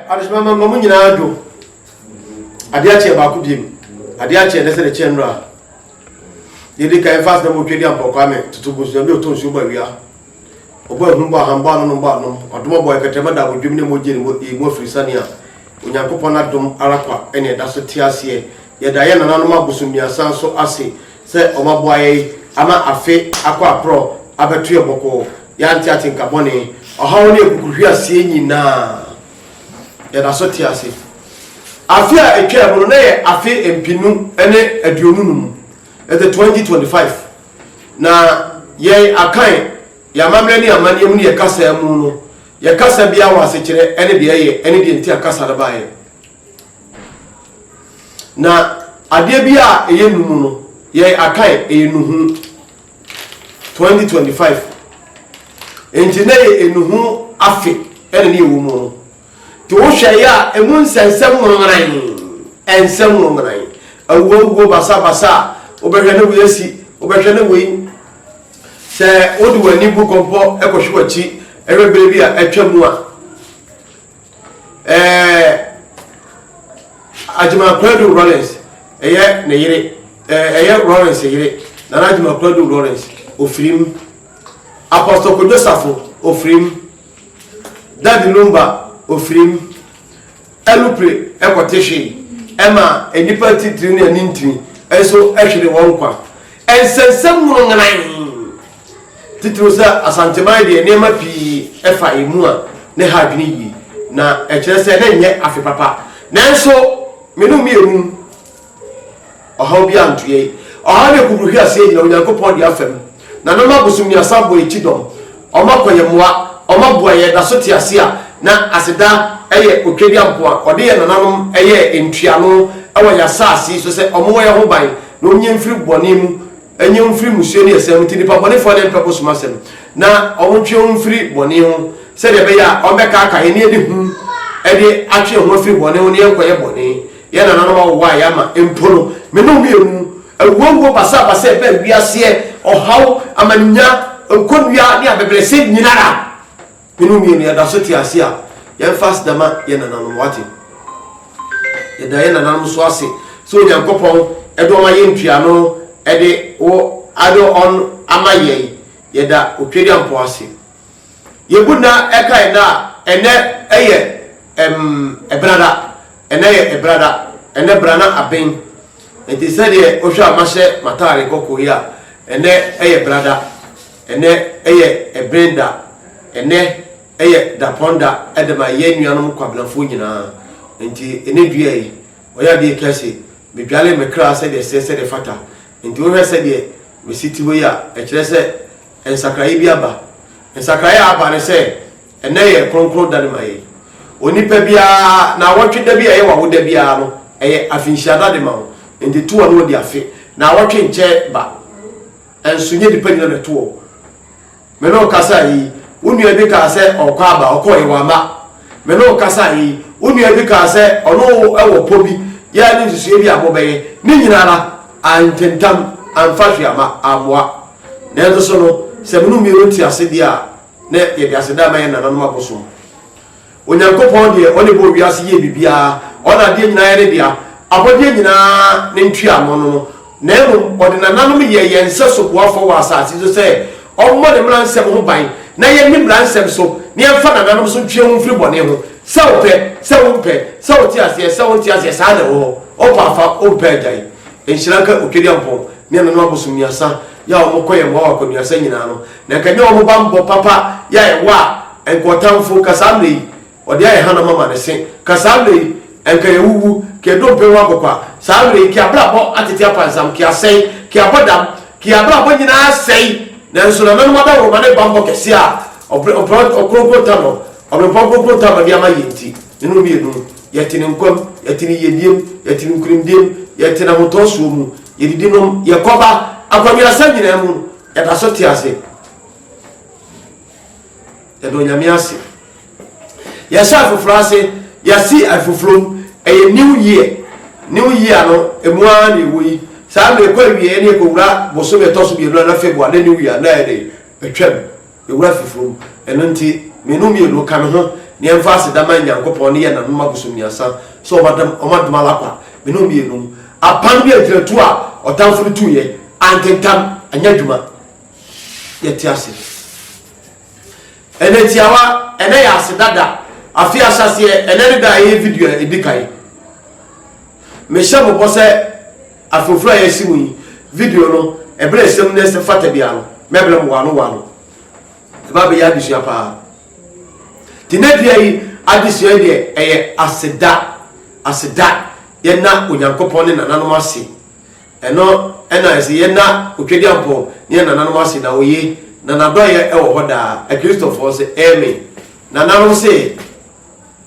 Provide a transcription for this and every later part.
adesoma ma ma mo nyinaa dwo adeɛ akyeɛ baako biem adeɛ akyeɛ ne sɛ ne kyɛn nora yɛde ka ɛfa sɛ motwe de ampɔkwa me toto gu so ɛmde ɔtɔ nsuo bɔ awia ɔbɔ ahum bɔ ahambɔ ano no bɔ anom ɔdom ɔbɔ ɛkɛtɛma da abodwom ne mogye ne mu afiri sane a onyankopɔn adom ara kwa ɛne ɛda so te aseɛ Yɛda yɛn nananom abosonnuasa nso ase sɛ wɔaboa yɛn ama afe akɔ aporɔw abɛto yɛn bɔkɔɔ. Yɛante atenka bɔne, ɔhaw ne akukuruhweaseɛ nyinaa. Yɛda so te ase. Afe a ɛtwaam no, na yɛ afe mpenu ne aduonu num, the 2025, na yɛn Akan, yɛn amammerɛ ne yɛn amanneɛ mu ne yɛn kasa mu no, yɛn kasa biara wɔ asekyerɛ ne deɛ ɛyɛ ne deɛ nti a kasa no baeɛ. Na adeɛ bi a ɛyɛ nu mu no, yɛ akae ɛyɛ nuhu 2025. Nti na yɛ enuhu afe ɛna ne ɛwɔ mu no. Te wohwɛ yɛ a, ɛmu nsɛnsɛm nwonwanan, ɛnsɛm nwonwanan. Awuawuo basabasa a, wobɛhwɛ ne wei asi, wobɛhwɛ ne wei. Sɛ wode w'ani bu kɔmpɔ ɛkɔhwe w'akyi ɛhwɛ berɛ bi a atwa mu a, ɛɛ Agyemang Kwadu Rawlings ɛyɛ ne yere ɛɛ ɛyɛ Rawlings yere Nana Agyemang Kwadu Rawlings ofirim Apostle Kojo Safo ofirim Daddy Lumba ofirim Alupre ɛkɔte hwe ɛma nnipa titiri ne anintini nso ɛhwere wɔn kwa ɛnsɛnsɛm mu no ngenan. Titiriw sɛ Asanteman deɛ nneɛma pii fa yɛn mu a na ɛha adwene yie, na ɛkyerɛ sɛ na ɛnyɛ afe papa. Nanso me ne wo mmienu mu ɔhaw biara anto yɛn. Ɔhaw ne kuburuhweaseɛ nyinaa Onyankopɔn de afa mu, na na ɔma abosommiasa bɔ yɛn kyidɔm, ɔma kɔ yɛn mmoa, ɔma boa yɛn, da so te ase a na aseda yɛ otwedeampo a ɔde yɛn nananom yɛɛ ntuano wɔ yɛn asase yi so sɛ wɔwɔ yɛn ho ban na wɔnyi yɛn mfiri bɔne mu Nye wo mfiri mmusua ne asɛm nti, nnipa bɔnefoɔ na ɛmpɛ wo som asɛm, na wɔtwe wo mfiri bɔne ho, sɛdeɛ ɛbɛyɛ a wɔbɛkaaka yɛn, na yɛde hu de atwe yɛn ho afiri bɔne ho, na yɛnkɔyɛ bɔne, yɛn nananom awowa a yɛama mpo no. Me ne wo mmienu, awuawuo, basabasa, ɛbɛ, wiaseɛ, ɔhaw, amaninya, nkɔnnua, ne abɛbrɛsɛ nyinara. Hene mmienu yɛda so te ase a yɛmfa aseda ma yɛn nananom wate? Yɛda yɛn nananom nso ase sɛ Onyankopɔn de wɔn ayɛ ntuano de wo ade ɔn ama yɛn. Yɛda Otwedeampɔw ase. Yɛbu nna ɛka yɛn a ɛnɛ ɛyɛ ɛm ɛbrada, ɛnɛ yɛ ɛbrada, ɛnɛ brana aben. Nti sɛdeɛ wohwɛ a mahyɛ m'ataare kɔkɔɔ yi a ɛnɛ ɛyɛ brada. Ɛnnɛ yɛ Ɛben da. Ɛnnɛ yɛ Dapɔn da de ma yɛn nuanom Kwabenafoɔ nyinaa. Enti ɛnnɛ dua yi, ɔyɛ adeɛ ɛka se, Medwale me kra sɛdeɛ ɛsɛ, sɛdeɛ ɛfata. Enti wohwɛ sɛdeɛ mesi te hɔ yi a, ɛkyerɛ sɛ nsakraeɛ bi aba. Nsakraeɛ a aba ne sɛ, ɛnnɛ yɛ kronkron da de ma yɛn. Onipa biara, naawɔtwe da bi a ɛyɛ w'awoda biara no, ɛyɛ afenhyia da de ma wo. Enti to w'ano di afe. Naawɔtwe nkyɛ ba. Nso nyɛ nnipa nyina na ɛto wɔn. Me ne wo kasae yi, wo nua bi kaa sɛ ɔrekɔ aba, ɔkɔeɛ, wamma. Me ne wo kasae yi, wo nua bi kaa sɛ ɔne wo wɔ pɔ bi, yɛɛ ne nsusuiɛ bi a mobɛyɛ. Ne nyina ara, antentam, amfa hwee amma, ammoa. Nanso so no, sɛ me ne wo mmienu nte ase deɛ a, na yɛde aseda rema yɛn nananom abosom. Onyankopɔn deɛ ɔne bɔɔ wiase yɛɛ biribiara, ɔna adeɛ nyinaa yɛ ne dea, abɔdeɛ nyinaa ne ntuano no, na mmom ɔde nananom yɛɛ yɛn nsɛso boafoɔ wɔ asase so sɛ ɔmmɔ ne mmara nsɛm ho ban na yɛnni mmara nsɛm so na yɛmfa nananom so ntwe wo ho mfiri bɔne ho, sɛ wo pɛ, sɛ wo mpɛ, sɛ wo te aseɛ, sɛ wo nte aseɛ, saa na ɛwɔ hɔ, wo pɛ a fa, wo mpɛ a gyae. Nhyira nka Otwadiampɔn ne nananom abosomniasa yɛ a wɔkɔ yɛn mmoa wɔ akwanuasa nyinaa no, Na nka nyɛ wɔn bammɔ papa yɛ a yɛwɔ a, nka ɔtamfo, nka saa mmerɛ yi, ɔde ayɛ hanam ama ne se. Nka saa mmerɛ yi, nka yɛawuwu, nka yɛdompe ho akokwa. Saa mmerɛ yi, nka yɛabrabɔ atete apansam, nka yɛasɛe, nka yɛabɔ dam, nka yɛn abrabɔ nyina ara asɛe. Nanso nananom adaworoma ne bammɔ kɛseɛ a Ɔberempɔn Kronkron Tano, Ɔberempɔn Kronkron Tano de ama yɛn nti, ne no mmienu, yɛte ne nkwa mu, yɛte ne yiedie mu, yɛte ne nkunimdie mu, yɛte n'ahotɔsoɔ mu, yɛdidi nom, yɛkɔba, akwannuasɛm nyina ara mu, Yɛda so te ase. Yɛda Onyame ase. Yɛhyɛ afoforo ase. Yɛasi afoforo. Ɛyɛ new year. New year no, emu ara na ɛwɔ yi. Saa mmerɛ kɔ awieɛ ne yɛkɔwura bosome ɛtɔ so mmienu anaa February ne new year na ɛde atwam. Ewura Fifuru, Eno nti, me no mienu ka me ho na yɛmfa aseda ma Nyankopɔn ne yɛn nanom abosomniasa sɛ wɔn adom wɔn adom ara kwa. Me no mienu apam ne agyinatuo a ɔtamfo no tuuiɛ ankentam, anyɛ adwuma. Yɛte ase. Eno tiawa, Eno yɛ aseda da, afe ahyɛaseɛ, Eno ne da a ɛyɛ video a edikan. Mehyɛ mo bɔ sɛ. Afoforo a yɛasi mu yi, video no, bere a asɛm no fata biara no, mɛbrɛ mo wɔano wɔano. Ɛbɛba abɛyɛ adesua paa. Tinadua yi adesua yi deɛ, ɛyɛ aseda. Aseda. Yɛnna Onyankopɔn ne nananom ase. Ɛno na ɛsɛ. Yɛnna Otwadiampɔn ne yɛn nananom ase, na oye, na n'adɔeyɛ wɔ hɔ daa. Akristofoɔ se, Amen. Nananom se.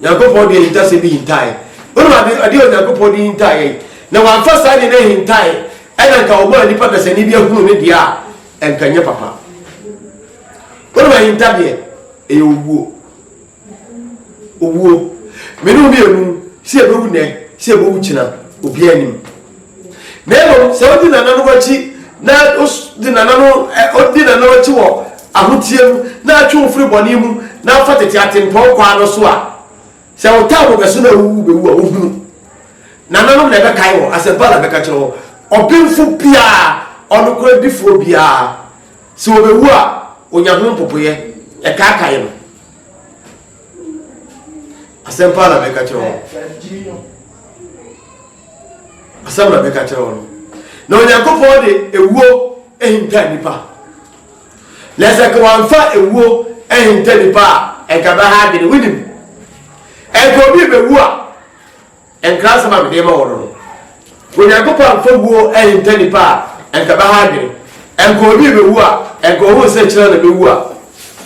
Nyankopɔn de ahintasɛm bi hintaeɛ. Wonim ade ade a Onyankopɔn de hintaeɛ yi? Na wamfa saa de no ahintaeɛ, ɛna nka wɔmaa nnipa dasani bi ahunu ne deɛ a, ɛnka nyɛ papa. Wonim ahinta deɛ? Ɛyɛ owuo. Owuo. Mene wo mmienu, sɛ yɛbɛwu nɛ, sɛ yɛbɛwu kyena, obiara nim. Na mmom sɛ odi nananom akyi na odi nananom odi nananom akyi wɔ ahoteɛ mu na atwe wo firi bɔne mu na afa tete atempɔn kwan no so a, sɛ wo taa bɔ bɛso na awu wo bɛwu a, wohunu. Nananom na ɛbɛkae wɔn, asɛmpa na ɛbɛka kyerɛ wɔn. Ɔbenfo biara, ɔnokorɛdifoɔ biara, sɛ ɔbɛwu a, ɔnya ho mpopoeɛ, ɛkaakae no. Asɛmpa na ɛbɛka kyerɛ wɔn. Asɛm na meka kyerɛ wo no. Na Onyankopɔn de ewuo ahinta nnipa. Na sɛ nka wamfa ewuo ahinta nnipa a, nka bɛha adwene. Wonim, nka obi rebɛwu a, nkrasɛm a mede ma wo no no. Onyankopɔn amfa wuo ahinta nnipa a, nka bɛha adwene. Nka obi rebɛwu a, nka ɔhu sɛ kyerɛ na bɛwu a,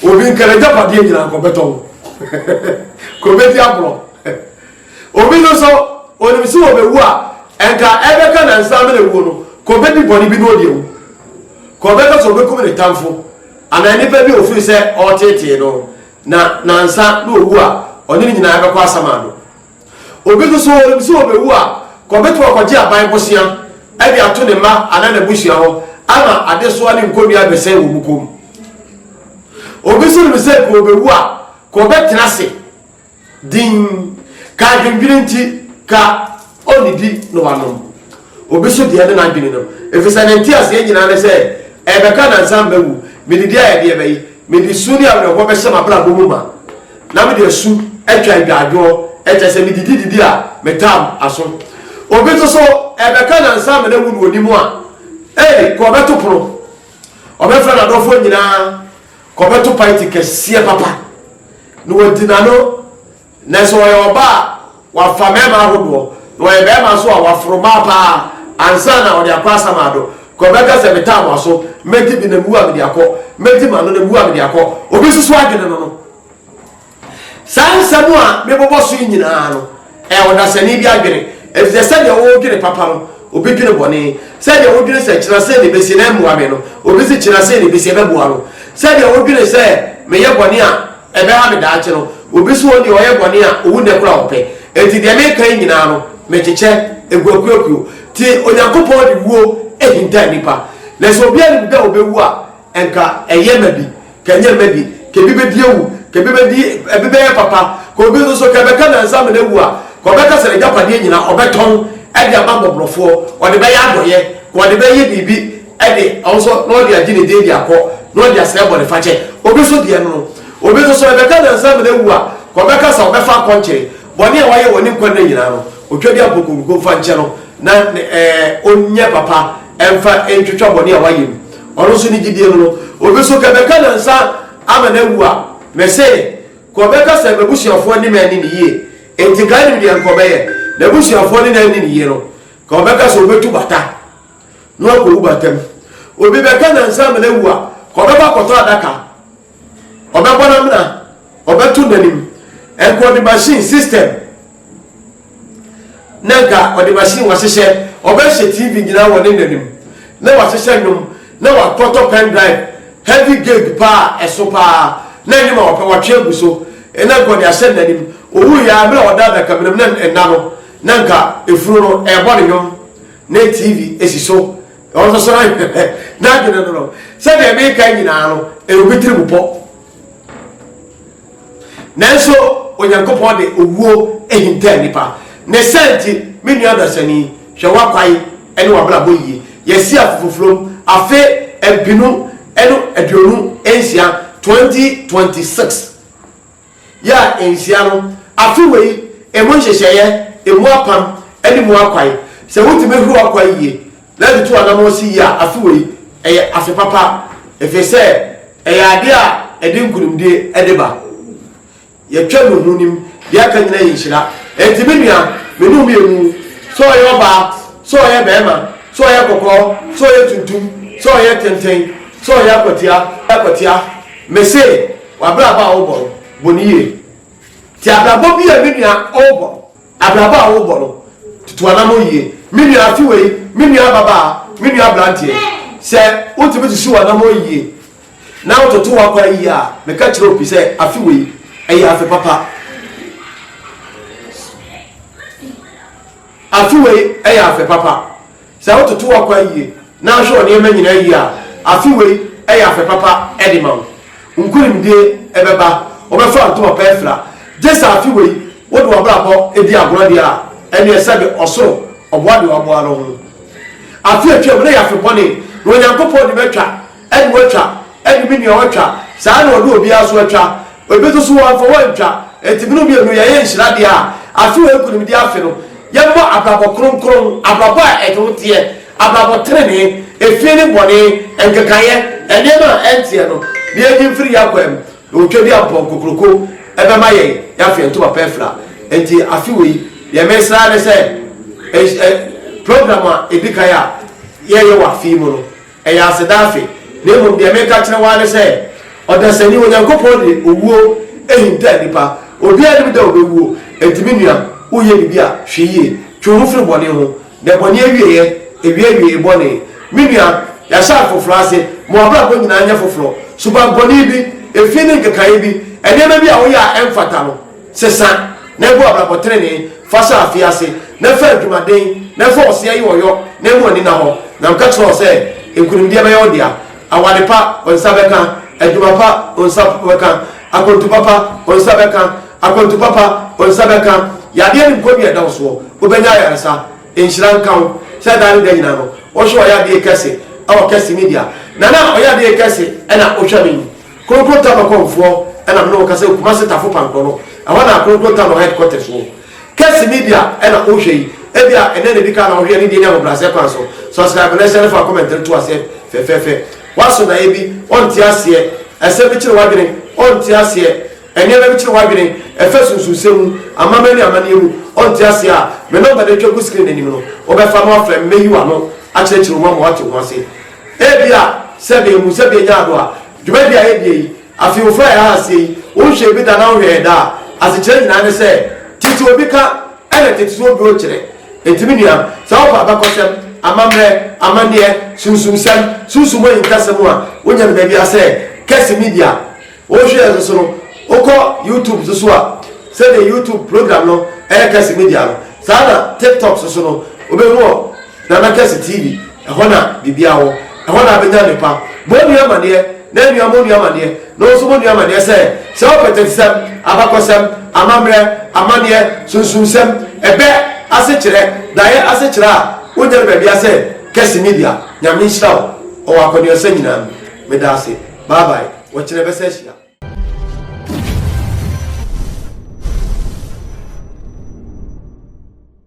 obi nka n'agyapadeɛ nyinaa nka ɔbɛtɔn. Nka ɔbɛdi aborɔ. Obi no nso, onim sɛ obewu a, ɛnka ɛbɛka nnansa ama no awuo no, ka obedi bɔne bi na ɔde awu. Ka ɔbɛka sɛ obekum ne tamfo anaa nipa bi a ofiri sɛ ɔreteetee no, na nnansa na owu a, ɔne no nyinaa bɛkɔ asamando. Obi nso so, onim sɛ obewu a, ka obetumi akɔgye aban bosea de ato ne mma anaa n'abusua hɔ ama adesoa ne nkonnua abɛsɛe wɔ wɔn kɔn mu. Obi nso nim sɛ ka obewu a, ka ɔbɛtena ase. Dinn, ka adwendwene nti, ka onnidi na wanom obi so deɛ ne n'adwene no, efisɛ ne nteaseɛ nyinaa ne sɛ ɛrebɛka nnansa a mawu, mede deɛ ayɛ deɛ bɛye, mede su ne awerɛhoɔ bɛhyɛ m'abrabɔ mu ma, na mede asu atwa agyaadwoɔ, ɛkyerɛ sɛ medidi didi a metam aso. Obi nso so ɛrebɛka nnansa a manawu na ɔnim a, ei, kɔ bɛto pono, ɔbɛfrɛ n'adɔfoɔ nyinaa, Kɔbɛto party kɛseɛ papa na wadi n'ano nɛsɛ ɔyɛ ɔba a wafa mɛɛma ahodoɔ na ɔyɛ bɛɛma nso a waforo maa paa ansa na ɔde akɔ asamaado kɔbɛka sɛ metaa mo aso mɛdi bi na mewu a mede akɔ mɛdi m'ano na mewu a mede akɔ obi nso so adwene no no Saa nsɛm a mebobɔ so yi nyinaa no, ɛyɛ ɔdasani bi adwene, efisɛ sɛnea wodwene papa no, obi dwene bɔne, sɛnea wodwene sɛ kyena sei na ebesi na ɛmmoa me no, obi se kyena sei na ebesi ɛbɛboa no, sɛnea wodwene sɛ meyɛ bɔne a ɛbɛha me daakye no, obi se wɔn deɛ ɔyɛ bɔne a owu nnɛ koraa ɔpɛ. Enti deɛ meka yi nyinaa no, mekyekyɛ, egu akuoakuo. Te Onyankopɔn de wuo ahinta nnipa, na sɛ obiara nim da a obewu a, Nka ɛyɛ ma bi, ka ɛnyɛ mma bi, ka ebi bedi awu, ka ebi bedi, ebi bɛyɛ papa, ka obi nso so, ka ɛbɛka nnansa ama no awu a, ka ɔbɛka sɛ n'agyapadeɛ nyinaa ɔbɛtɔn de ama mmɔborɔfoɔ, ɔde bɛyɛ adɔeɛ, ka ɔde bɛyɛ biribi de, ɔno nso, na ɔde agye ne din de akɔ, na ɔde asrɛ bɔnefakyɛ. Obi nso deɛ no no, obi nso so, ɛbɛka nnansa ama no awu a, ka ɔbɛka sɛ ɔbɛfa akɔnkyere, bɔne a wayɛ wɔ ne nkwa nna nyinaa no, otwa de ampɔkonkuro mfa nkyɛ no, na ɛɛ ɔnyɛ papa. Ɛmfa ntwitwa bɔne a wayɛ mu. Ɔno nso ne gyidie no no, obi nso kɛ bɛka nansa ama no awu a, mese, kɔ bɛka sɛ m'abusuafoɔ nne me anni no yie, enti kae nim deɛ nka ɔbɛyɛ? N'abusuafoɔ ne no anni no yie no, ka ɔbɛka sɛ ɔbɛtu bata na wakɔwu bata mu. Obi bɛka nansa ama no awu a, ka ɔbɛkɔ akɔtɔ adaka. Ɔbɛbɔ n'amena, ɔbɛto n'anim. Nka ɔde machine system na nka ɔde machine wahyehyɛ, ɔbɛhyɛ TV nyinaa wɔ ne n'anim na wahyehyɛ nnwom na wakɔtɔ pen drive heavy gig paa a ɛso paa na nnwom a ɔpɛ watwe agu so na nka ɔde ahyɛ n'anim. Owuiɛ ara mmerɛ a ɔda adakamena mu na nna no na nka efunu no ɛrebɔ ne nnwom na TV si so. Ɔsosɔre n'adwene no no, sɛdeɛ meka nyinaa no, ɛyɛ obi tirimupɔ. Nanso Onyankopɔn de owuo ahinta nnipa. Ne saa nti, me nua dasani, hwɛ w'akwan ne w'abrabɔ yie. Yɛasi afofofurom afe mpenu ne aduonu nsia, 2026. Yɛ a enhyia no, afe wei, emu nhyehyɛeɛ, emu apam, ne mu akwan. Sɛ wotumi horo akwan yie na de tu anammɔn si yie a, afe wei, ɛyɛ afe papa, ɛfiri sɛ ɛyɛ adeɛ a ɛde nkunimdie de ba. Yɛtwa mu ho nim, deɛ aka nyinaa yɛ nhyira. Enti me nua, me ne wo mmienu, sɛ ɔyɛ ɔbaa, sɛ ɔyɛ barima, sɛ ɔyɛ kɔkɔɔ, sɛ ɔyɛ tuntum, sɛ ɔyɛ tenten, sɛ ɔyɛ akwatia, akwatia, mese, W'abrabɔ a worebɔ no, bɔ no yie. Te abrabɔ bi a me nua ɔrebɔ no. Abrabɔ a worebɔ no, tutu w'anammɔn yie. Me nua afe wei, me nua ababaa, me nua aberanteɛ, sɛ wotumi susu w'anammɔn yie na wototo w'akwan yie a, meka kyerɛ wo pi sɛ afe wei, ɛyɛ afe papa. Afe wei yɛ afe papa. Sɛ wototo w'akwan yie na ahwɛ wo nneɛma nyinaa yie a, afe wei yɛ afe papa de ma wo. Nkonimdie bɛba, wobɛfa ntoma pa afira. Gye sɛ afe wei wode w'abrabɔ di agorɔ deɛ a, ɛnneɛ sɛbe ɔsoro ɔboa deɛ waboa no ho. Afe a atwam no yɛ afe bɔne, na Onyankopɔn de bɛtwa. Ɛne watwa, ɛne me nua watwa, saa ara na ɔde obiara nso atwa. Ebi nso so wɔamfa wɔantwa. Enti me ne wo mmienu yɛyɛ nhyira deɛ a, afe wei nkunimdie afe no, yɛmmɔ abrabɔ kronkron, abrabɔ a ɛde ho teɛ, abrabɔ tenenee, efie ne bɔne, nkekaeɛ, nneɛma a ɛnteɛ no, na yɛnyi mfiri yɛn akwaa mu, na otwa bi a mpɔn kokroko bɛma yɛn, na afei ntoma pa afira. Enti afe wei, deɛ meresrɛ ara ne sɛ, eh, eh, program a ɛdi kan a yɛyɛ wɔ afe yi mu no, Ɛyɛ aseda afe, na mmom deɛ mereka akyerɛ wo ara ne sɛ, ɔdasani, Onyankopɔn de owuo ahinta nnipa. Obiara nnim da a ɔbɛwuo. Enti me nua, woreyɛ biribi a, hwɛ yie. Twe wo ho firi bɔne ho. Nnɛbɔne awieeɛ, ɛwie awiee bɔne. Me nua, yɛahyɛ afoforɔ ase. Ma w'abrabɔ nyinaa nyɛ foforɔ. Subammɔne bi, efi ne nkekaeɛ bi, nneɛma bi a woyɛ a ɛmfata no, Sesa, na gu abrabɔ trenee, fa hyɛ afee ase, na fa adwumaden, na fa ɔseɛ yɛ ɔyɔ, na mmu ani nna hɔ. Na meka kyerɛ wo sɛ, nkonimdie bɛyɛ wo dea, aware pa, wo nsa bɛka, adwuma pa, wo nsa bɛka, akwantu papa, wo nsa bɛka, akwantu papa, wo nsa bɛka, yadeɛ ne nkɔnnua a ɛda wo soɔ, wobɛnya ayaresa. Nhyira nka wo, sɛ daa ne da nyinaa no, wohwɛ ɔyadeɛ kɛse wɔ kɛse Media, na na ɔyadeɛ kɛse na wohwɛ me yi. Kronkron Tano kɔmfoɔ na me ne wɔn kasa Kumase Tafo Pankorɔ no ɛhɔ na Kronkron Tano headquarters wɔ. Kess Media na wohwɛ yi, ebia ɛnɛ na edikan na wohwɛ ne deɛ ne ahobrɛaseɛ kwan so. Subscribe na hyɛre fa comment no to aseɛ fɛfɛɛfɛ. Woaso daeɛ bi, ɔnte aseɛ, asɛm bi kyere w'adwene, ɔnte aseɛ, nneɛma bi kyere w'adwene, ɛfa sunsunsɛm mu, amammerɛ ne amanneɛ mu, ɔnte aseɛ a, me number no atwa gu screen no anim no, wobɛfa no afrɛ me, mɛyi w'ano akyerɛkyerɛ wo mu ama woate ho ase. Ebia sɛ meehu sɛ meenya ado a, dwumadi a edi eyi, afe yi ofura yɛn ase yi, wonhwɛɛ bi da na wohwɛ yɛn daa. Asekyerɛ nyinaa ne sɛ, tete obi ka na tete so obi okyerɛ. Enti me nua, sɛ wofa abakɔsɛm, amammerɛ, amanneɛ, sunsumsɛm, sunsum ahintasɛm a wonya no baabi a sɛ kɛse media, Wohwɛ yɛn nso no, wokɔ YouTube nso so a, sɛdeɛ YouTube program no yɛ Kɛse Media no, saa na TikTok nso so no, wobɛhu wɔ Nana Kɛse TV. Ɛhɔ na biribiara wɔ. Ɛhɔ na wobɛnya nnepa. Bɔ onua amaneɛ, na nnua mmɔ onua amaneɛ, na wo nso bɔ onua amaneɛ sɛ, sɛ wopɛ tetesɛm, abakɔsɛm, amammerɛ, amaneɛ, sunsumsɛm, ɛbɛ, asekyerɛ, daeɛ asekyerɛ a, wonya no baabiara sɛ Kɛse Media. Nyame nhyira wo wɔ w'akɔneɔsɛ nyinaa mu. Meda ase. Bye bye. Wɔkyerɛ bɛsɛ ahyia.